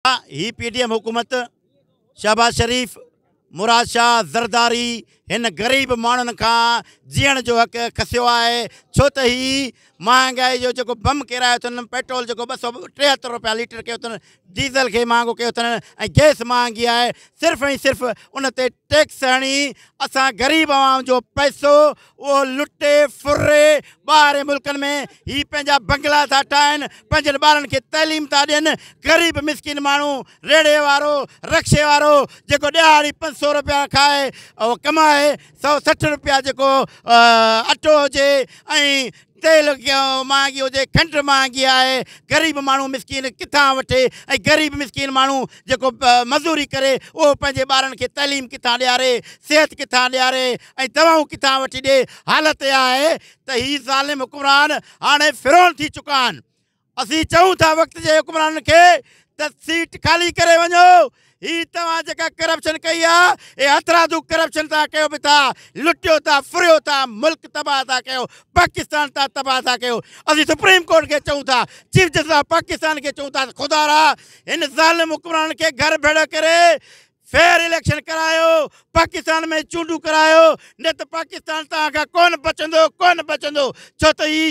هي P D M حڪومت، شهباز شريف، مراد شاهه زرداري هن غريب ماڻهن کان جيئڻ جو حق کسيو آهي ڇو ته هي مهانگائي جو جيڪو بم ڪيرايو اٿن، پيٽرول جيڪو ٻه سؤ ٽيهتر رپيا ليٽر ڪيو اٿن، ڊيزل کي مهانگو ڪيو اٿن ۽ گئس مهانگي آهي صرف ۽ صرف ان تي ٽيڪس هڻي اسان غريب عوام جو پئسو اهو لٽي ڦري ٻاهرين ملڪن ۾ هي پنهنجا بنگلا ٿا ٺاهن، پنهنجن ٻارن کي تعليم ٿا ڏين، غريب مسڪين ماڻهو، ريڙهي وارو، رڪشي وارو جيڪو ڏهاڙي پنج سؤ رپيا کائي ڪمائي، سؤ سٺ رپيا جيڪو اٽو هجي ۽ تيل ڪيون مهانگي هجي کنڊ مهانگي آهي غريب ماڻهو مسڪين ڪٿان وٺي ۽ غريب مسڪين ماڻهو جيڪو مزوري ڪري اهو پنهنجي ٻارن کي تعليم ڪٿان ڏياري صحت ڪٿان ڏياري ۽ دوائون ڪٿان وٺي ڏي حالت اها آهي ته هي ظالم حڪمران هاڻي فرعون ٿي چڪا آهن اسين چئون ٿا وقت جي حڪمرانن کي ته سيٽ خالي ڪري وڃو هي توهان جيڪا ڪرپشن ڪئي آ اهي هٿرادو ڪرپشن تان ڪيو به ٿا لٽيو ٿا ڦريو ٿا ملڪ تباهه ٿا ڪيو پاڪستان تان تباهه ٿا ڪيو اسين سپريم ڪورٽ کي چئون ٿا چيف جسٽس آف پاڪستان کي چئون ٿا ته خدارا هن ظالم حڪمرانن کي گهر ڀيڙو ڪري فيئر اليڪشن ڪرايو پاڪستان ۾ چونڊون ڪرايو نه ته پاڪستان توهان کان ڪونه بچندو ڪونه بچندو ڇو ته هي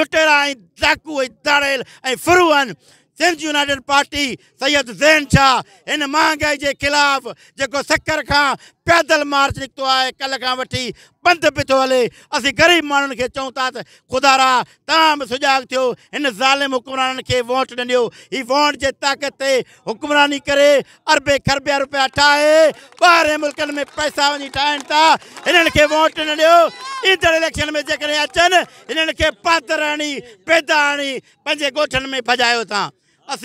لٽيرا ۽ ڊاڪو ۽ ڌاڙيل ۽ ڦرو آهن سنڌ يونائيٽيڊ پارٽي سيد ذهن شاهه هن مهانگائي جي خلاف جيڪو سکر کان پيدل مارچ نڪتو آهي ڪلهه کان وٺي پنڌ به ٿو هلي اسين غريب ماڻهن کي چئون ٿا ته خدارا توهان به سجاڳ ٿيو هن ظالم حڪمرانن کي ووٽ نه ڏيو هي ووٽ جي طاقت تي حڪمراني ڪري اربين کربين روپيا ٺاهي ٻاهرين ملڪن ۾ پئسا وڃي ٺاهين ٿا هنن کي ووٽ نه ڏيو ايندڙ اليڪشن ۾ جيڪڏهن اچن هنن کي پاتر هڻي پيدا هڻي پنهنجي ڳوٺن ۾ ڀڄايو ٿا اسين